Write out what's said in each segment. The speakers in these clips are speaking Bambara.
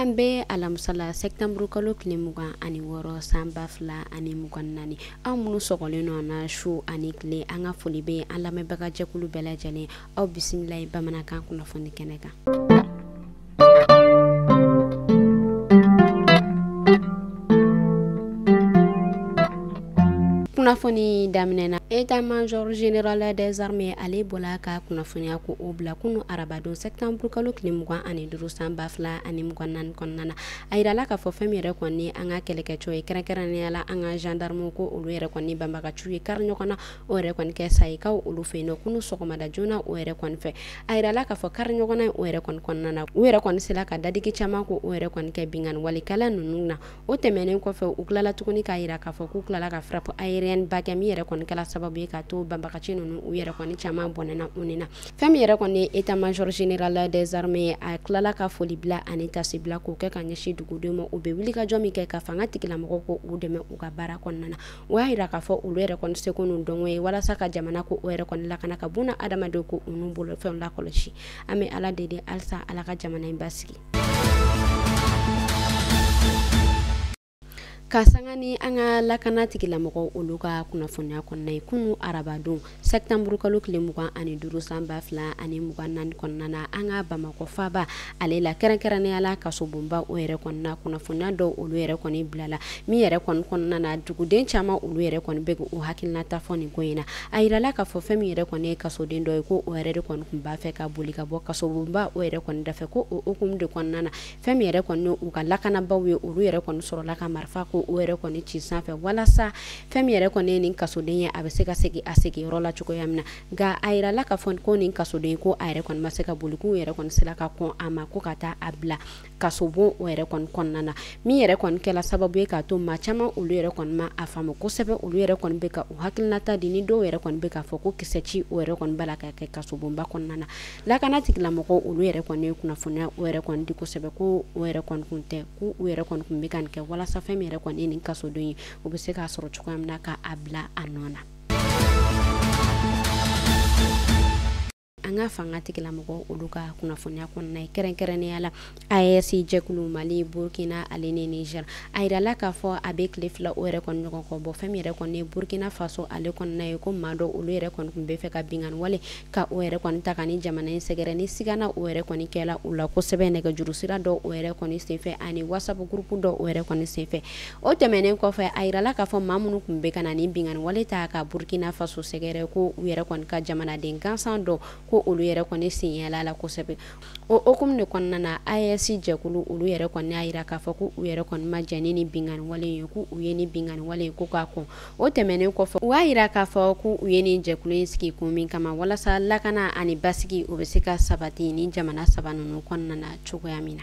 an bɛ alamusa la sɛtanburu kalo tile mugan ani wɔɔrɔ san ba fila ani mugan naani aw minnu sɔgɔlen nɔ na su ani tile an ka foli bɛ an lamɛnbagajɛkulu bɛɛ lajɛlen aw bisimila ye bamanankan kunnafoni kɛnɛ kan kunnafoni daminɛ na état major général des armées ale bɔla ka kunnafoniya ko o bila kunu arabadon sɛtanburu kalo tile mugan ani duuru san ba fila ani mugan naani kɔnɔna na a yirala k'a fɔ fɛn min yɛrɛ kɔni an ka kɛlɛkɛcɛw ye kɛrɛnkɛrɛnnenya la an ka gendarmew ko olu yɛrɛ kɔni banbagaciw ye kari ɲɔgɔn na o yɛrɛ kɔni kɛ sayikaw olu fɛ yen nɔ kunu sɔgɔmada joona o yɛrɛ kɔni fɛ a yirala k'a fɔ kari ɲɔgɔnna ye o yɛrɛ kɔni kɔnɔna na u yɛrɛ kɔni sera ka dadigi caman ko o yɛrɛ kɔni kɛ binkanni walikɛla ninnu na o tɛmɛnen kɔfɛ u tilala tuguni k'a yira k'a fɔ k'u tilala ka frappe aérienne ba kɛ min yɛrɛ kɔni kɛra sababu ye ka to banbagaci ninnu u yɛrɛ kɔni caman bɔnɛna u ni na fɛn min yɛrɛ kɔni ye état major général des armées a tilala ka foli bila ani tasi bila k'o kɛ ka ɲɛsin dugudenw ma u bɛ wulikajɔ min kɛ ka fanga tigilamɔgɔw ko u dɛmɛ u ka baara kɔnɔna na o y'a yira k'a fɔ olu yɛrɛ kɔni seko n'u dɔnko ye walasa ka jamana ko o yɛrɛ kɔni lakana ka buna adamadenw ko u n'u bolofɛnw lakɔlɔsi an bɛ ala deli halisa ala ka jamana in basigi ka sanga ni an ka lakana tigilamɔgɔw olu ka kunnafoniya kɔnɔna ye kunu arabadon Sɛtanburu kalo tile mugan ani duuru san ba fila ani mugan naani kɔnɔna na an ka bamakɔ faaba ale la kɛrɛnkɛrɛnnenya la kasobonba o yɛrɛ kɔnɔna kunnafoniya dɔw olu yɛrɛ kɔni bilala min yɛrɛ kɔni kɔnɔna na duguden caman olu yɛrɛ kɔni bɛ u hakilinata fɔ nin ko in na a yirala k'a fɔ fɛn min yɛrɛ kɔni ye kasoden dɔ ye ko o yɛrɛ de kɔni tun b'a fɛ ka boli ka bɔ kasobonba o yɛrɛ kɔni da fɛ ko o hukumu de kɔnɔna na fɛn min yɛrɛ kɔni u ka lakanabaaw ye olu yɛrɛ kɔni sɔrɔla ka marifa ko o yɛrɛ kɔni ci sanfɛ walasa fɛn min yɛrɛ kɔni ye nin kasoden ye a bɛ se ka segin a sigiyɔrɔ la cogoya min na nka a yirala k'a fɔ ko nin kasoden ko a yɛrɛ kɔni ma se ka boli k'u yɛrɛ kɔni sera ka kɔn a ma ko ka taa a bila kasobon o yɛrɛ kɔni kɔnɔna na min yɛrɛ kɔni kɛra sababu ye k'a to maa caman olu yɛrɛ kɔni ma a faamu kosɛbɛ olu yɛrɛ kɔni bɛ ka u hakilinata di ni dɔw yɛrɛ kɔni bɛ k'a fɔ ko kisɛ ci o yɛrɛ kɔni b'a la ka kɛ kasobonba kɔnɔna na lakana tigilamɔgɔw olu yɛrɛ kɔni ye kunnafoniya o yɛrɛ kɔni di kosɛbɛ ko o yɛrɛ kɔni kun tɛ ko u yɛrɛ kɔni kun bɛ ka nin kɛ walasa fɛn min yɛrɛ kɔni ye nin kasoden ye u bɛ se k'a sɔrɔ cogoya min na ka a bila a nɔ na an ka fanga tigilamɔgɔw olu ka kunnafoniya kɔnɔna ye kɛrɛnkɛrɛnnenya la AES jɛkulu Mali, Burkina ale ni Niger a yirala k'a fɔ a bɛ tile fila o yɛrɛ kɔni ɲɔgɔn kɔ bɔ, fɛn min yɛrɛ kɔni ye Burkina Faso ale kɔnɔna ye ko maa dɔ olu yɛrɛ kɔni tun bɛ fɛ ka binkanni wale ka o yɛrɛ kɔni ta ka ni jamana in sɛgɛrɛ ni sigana o yɛrɛ kɔni kɛla u la kosɛbɛ nɛgɛjuru sira dɔ o yɛrɛ kɔni senfɛ ani WhatsApp groupe dɔ o yɛrɛ kɔni senfɛ o tɛmɛnen kɔfɛ a yirala k'a fɔ maa minnu tun bɛ ka na ni binkanni wale ta ka Burkina Faso sɛgɛrɛ ko u yɛrɛ kɔni ka jamanaden gansan dɔ ko olu yɛrɛ kɔni sen yala la kosɛbɛ o hukumu de kɔnɔna na AES jɛkulu olu yɛrɛ kɔni y'a yira k'a fɔ ko u yɛrɛ kɔni ma jɛn ni binkanni wale ye ko u ye ni binkanni wale ye ko k'a kɔn o tɛmɛnen kɔfɛ u y'a yira k'a fɔ ko u ye nin jɛkulu in sigi kun min kama walasa lakana ani basigi o bɛ se ka sabati ni jamana saba ninnu kɔnɔna na cogoya min na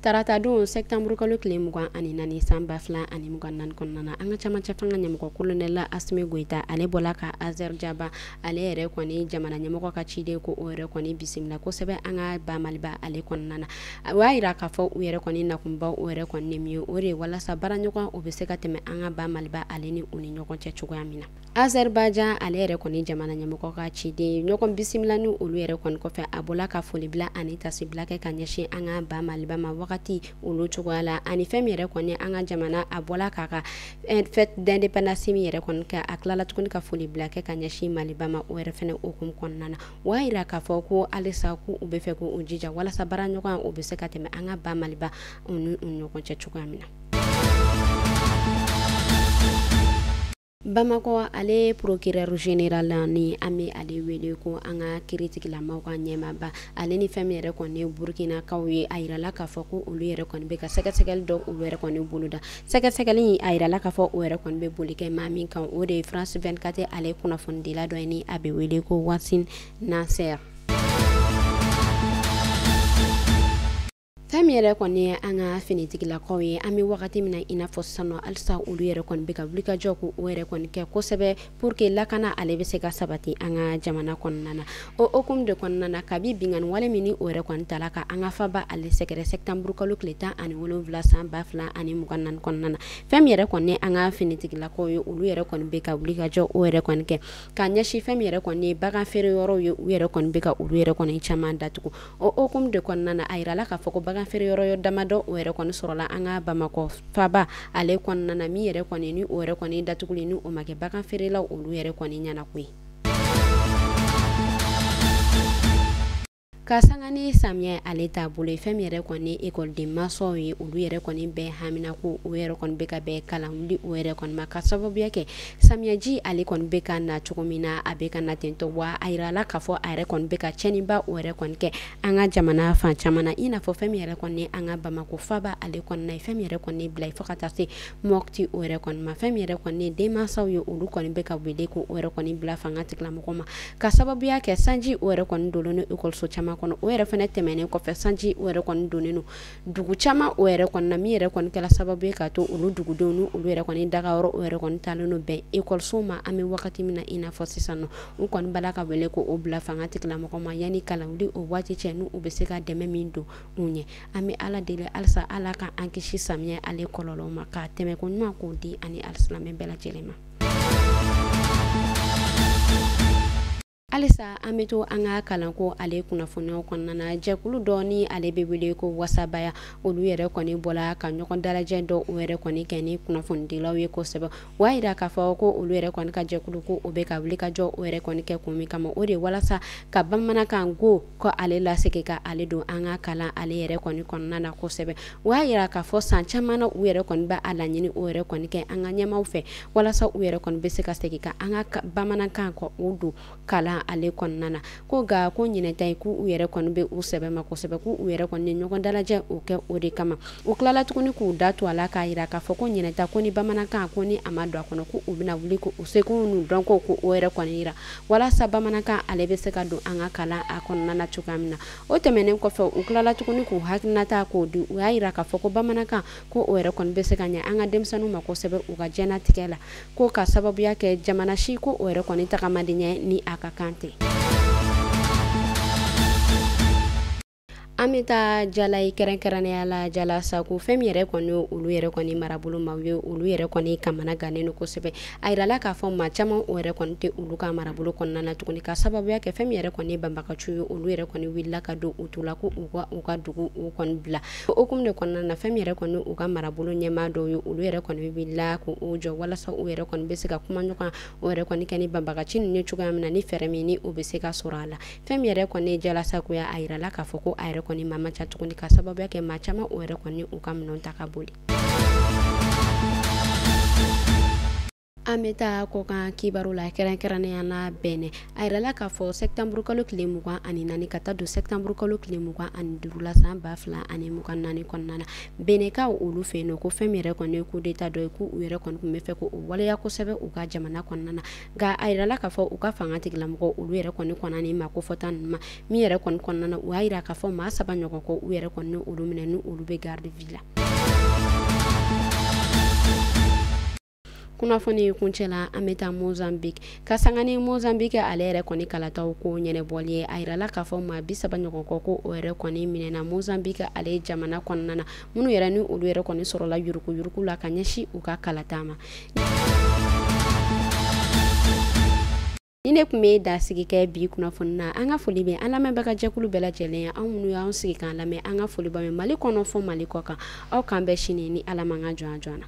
tarata don sɛtanburu kalo tile mugan ani naani san ba fila ani mugan naani kɔnɔna na an ka camancɛ fanga ɲɛmɔgɔ kolonɛla asimi goyita ale bɔla ka azɛrijaban ale yɛrɛ kɔni jamana ɲɛmɔgɔ ka ciden ko o yɛrɛ kɔni bisimila kosɛbɛ an ka ba maliba ale kɔnɔna na u y'a yira k'a fɔ u yɛrɛ kɔni nakunba o yɛrɛ kɔni ye min ye o de ye walasa baaraɲɔgɔn o bɛ se ka tɛmɛ an ka ba maliba ale ni u ni ɲɔgɔn cɛ cogoya min na Azerbaijan ale yɛrɛ kɔni jamana ɲɛmɔgɔ ka ciden ɲɔgɔn bisimila ni olu yɛrɛ kɔni kɔfɛ a bɔla ka foli bila ani taasi bila kɛ ka ɲɛsin an ka ba maliba ma wagati olu cogoya la ani fɛn min yɛrɛ kɔni an ka jamana a bɔla k'a ka fête d'indépendance min yɛrɛ kɔni kɛ a tilala tuguni ka foli bila kɛ ka ɲɛsin maliba ma o yɛrɛ fɛnɛ hukumu kɔnɔna na o y'a yira k'a fɔ ko halisa ko u bɛ fɛ ko u jija walasa baaraɲɔgɔnya o bɛ se ka tɛmɛ an ka ba maliba ni u ɲɔgɔn cɛ cogoya min na Bamakɔ ale procureur général ni an bɛ ale wele ko an ka kiiritigilamaw ka ɲɛmaaba ale ni fɛn min yɛrɛ kɔni ye Burkinakaw ye a yirala k'a fɔ ko olu yɛrɛ kɔni bɛ ka sɛgɛsɛgɛli dɔ o yɛrɛ kɔni boloda sɛgɛsɛgɛli in a yirala k'a fɔ o yɛrɛ kɔni bɛ boli kɛ maa min kan o de ye France 24 ale kunnafonidila dɔ ye ni a bɛ wele ko Wassim Nasr. fɛn min yɛrɛ kɔni ye an ka finitigilakaw ye an bɛ wagati min na i n'a fɔ sisan halisa olu yɛrɛ kɔni bɛ ka wulikajɔ ko o yɛrɛ kɔni kɛ kosɛbɛ pour que lakana ale bɛ se ka sabati an ka jamana kɔnɔna na o hukumu de kɔnɔna na kabi binkanni wale min ni o yɛrɛ kɔni tala ka an ka faba ale sɛgɛrɛ sɛtanburu kalo tile tan ani wolonwula san ba fila ani mugan naani kɔnɔna na fɛn min yɛrɛ kɔni an ka finitigilakaw ye olu yɛrɛ kɔni bɛ ka wulikajɔ o yɛrɛ kɔni kɛ ka ɲɛsin fɛn min yɛrɛ kɔni bagan feere yɔrɔw ye u yɛrɛ kɔni bɛ ka olu yɛrɛ kɔni caman datugu o hukumu de kɔnɔna na a yirala k'a fɔ ko bagan feere yɔrɔ damadɔ o yɛrɛ kɔni sɔrɔla an ka bamakɔ faba ale kɔnɔna na min yɛrɛ kɔni ni o yɛrɛ kɔni datuguli ni o ma kɛ bagan feerelaw olu yɛrɛ kɔni ɲɛna ko ye ka sanga ni samiyɛ ale taabolo ye fɛn min yɛrɛ kɔni ekɔliden mansaw ye olu yɛrɛ kɔni bɛɛ haminanko o yɛrɛ kɔni bɛ ka bɛn kalan wuli o yɛrɛ kɔni ma ka sababuya kɛ Samiyaji ale kɔni bɛ ka na cogo min na a bɛ ka na tentɔ wa a yirala k'a fɔ a yɛrɛ kɔni bɛ ka cɛnniba o yɛrɛ kɔni kɛ an ka jamana fan caman na i n'a fɔ fɛn min yɛrɛ kɔni an ka Bamakɔ faaba ale kɔni na fɛn min yɛrɛ kɔni bila fo ka taa se Mopti o yɛrɛ kɔni ma fɛn min yɛrɛ kɔni denmansaw ye olu kɔni bɛ ka wele ko o yɛrɛ kɔni bila fanga tigilamɔgɔw ma ka sababuya kɛ sanji o yɛrɛ kɔni donnen don ekɔliso caman kɔnɔ o yɛrɛ fana tɛmɛnen kɔfɛ sanji o yɛrɛ kɔni donnen don dugu caman o yɛrɛ kɔni na min yɛrɛ kɔni kɛla sababu ye k'a to olu dugudenw ni olu yɛrɛ kɔni dagayɔrɔ o yɛrɛ kɔni talen don bɛn ekɔliso ma an bɛ wagati min na i n'a fɔ sisan nɔ u kɔni b'a la ka wele ko o bila fanga tigilamɔgɔ ma yanni kalanwuli o waati cɛ n'u bɛ se ka dɛmɛ min don u ɲɛ an bɛ ala deli halisa ala ka an kisi samiyɛ ale kɔlɔlɔ ma k'a tɛmɛko ɲuman k'o di an ni alisilamɛ bɛɛ lajɛlen ma halisa an bɛ to an ka kalanko ale kunnafoniyaw kɔnɔna na jɛkulu dɔ ni ale bɛ wele ko wasabaya olu yɛrɛ kɔni bɔla ka ɲɔgɔn dalajɛ dɔ o yɛrɛ kɔni kɛ ni kunnafonidilaw ye kosɛbɛ wa yira k'a fɔ ko olu yɛrɛ kɔni ka jɛkulu ko o bɛ ka wulikajɔ o yɛrɛ kɔni kɛ kun min kama o de walasa ka bamanankan ko ko ale lasegin ka ale don an ka kalan ale yɛrɛ kɔni kɔnɔna na kosɛbɛ u y'a yira k'a fɔ san caman na u yɛrɛ kɔni bɛ a laɲini o yɛrɛ kɔni kɛ an ka ɲɛmaw fɛ walasa u yɛrɛ kɔni bɛ se ka segin ka an ka bamanankan ko o don kalan ale kɔnɔna na ko nka ko ɲinan ta ye k'u yɛrɛ kɔni bɛ u sɛbɛ ma kosɛbɛ k'u yɛrɛ kɔni ɲɔgɔn dalajɛ o kɛ o de kama u tilala tuguni k'u da to a la k'a yira k'a fɔ ko ɲinan ta ko ni bamanankan ko ni a ma don a kɔnɔ ko u bɛna wuli ko u seko n'u dɔnko ko o yɛrɛ kɔni yira walasa bamanankan ale bɛ se ka don an ka kalan a kɔnɔna na cogoya min na o tɛmɛnen kɔfɛ u tilala tuguni k'u hakilinata k'o di u y'a yira k'a fɔ ko bamanankan ko o yɛrɛ kɔni bɛ se ka ɲɛ an ka denmisɛnninw ma kosɛbɛ u ka diɲɛnatigɛ la ko ka sababuya kɛ jamana si ko o yɛrɛ kɔni tagama tɛ ɲɛ ni a ka kan tɛ an bɛ taa jala ye kɛrɛnkɛrɛnnenya la Jalasago fɛn min yɛrɛ kɔni olu yɛrɛ kɔni marabolo maaw ye olu yɛrɛ kɔni kamanagannen don kosɛbɛ a yirala k'a fɔ maa caman o yɛrɛ kɔni tɛ olu ka marabolo kɔnɔna na tuguni ka sababuya kɛ fɛn min yɛrɛ kɔni banbagaciw ye olu yɛrɛ kɔni wulila k'a don u tulo la ko u ka u ka dugu o kɔni bila o hukumu de kɔnɔna na fɛn min yɛrɛ kɔni u ka marabolo ɲɛmaa dɔw ye olu yɛrɛ kɔni wulila k'u jɔ walasa u yɛrɛ kɔni bɛ se ka kuma ɲɔgɔn o yɛrɛ kɔni kɛ ni banbagaci ninnu cogoya min na ni fɛɛrɛ min ni o bɛ se ka sɔrɔ a la fɛn min yɛrɛ kɔni Jalasago ye a yirala k'a fɔ ko a yɛrɛ kɔni maa man ca tuguni ka sababuya kɛ maa caman o yɛrɛ kɔni u ka minɛn ta ka boli an bɛ taa kɔkan kibaru la kɛrɛnkɛrɛnnenya la Bɛnɛ a yirala k'a fɔ sɛptanburukalo tile mugan ani naani ka taa don sɛptanburukalo tile mugan ani duuru la san ba fila ani mugan naani kɔnɔna na Bɛnɛkaw olu fɛ yen nɔ ko fɛn min yɛrɛ kɔni ye kudeta dɔ ye ko u yɛrɛ kɔni tun bɛ fɛ ko o waleya kosɛbɛ u ka jamana kɔnɔna na nka a yirala k'a fɔ u ka fanga tigilamɔgɔ olu yɛrɛ kɔni kɔnɔna ni ma ko fɔta ninnu ma min yɛrɛ kɔni kɔnɔna na u y'a yira k'a fɔ maa saba ɲɔgɔn kɔ u yɛrɛ kɔni olu minɛ ni olu bɛ garde à vue la kunnafoni in kuncɛ la an bɛ taa mozambique ka sanga ni mozambique ale yɛrɛ kɔni kalataw ko ɲɛnɛbɔli ye a yirala k'a fɔ maa bi saba ɲɔgɔn kɔ ko o yɛrɛ kɔni minɛna mozambique ale jamana kɔnɔna na minnu yɛrɛ ni olu yɛrɛ kɔni sɔrɔla yurukuyuruku la ka ɲɛsin u ka kalata ma nin de kun bɛ dansigi kɛ bi kunnafoni na an ka foli bɛ an lamɛnbaga jɛkulu bɛɛ lajɛlen ye aw minnu y'aw sigi k'an lamɛn an ka foli bɛ mali kɔnɔ fo mali kɔkan aw k'an bɛn sini ni ala man ka jɔn jɔn na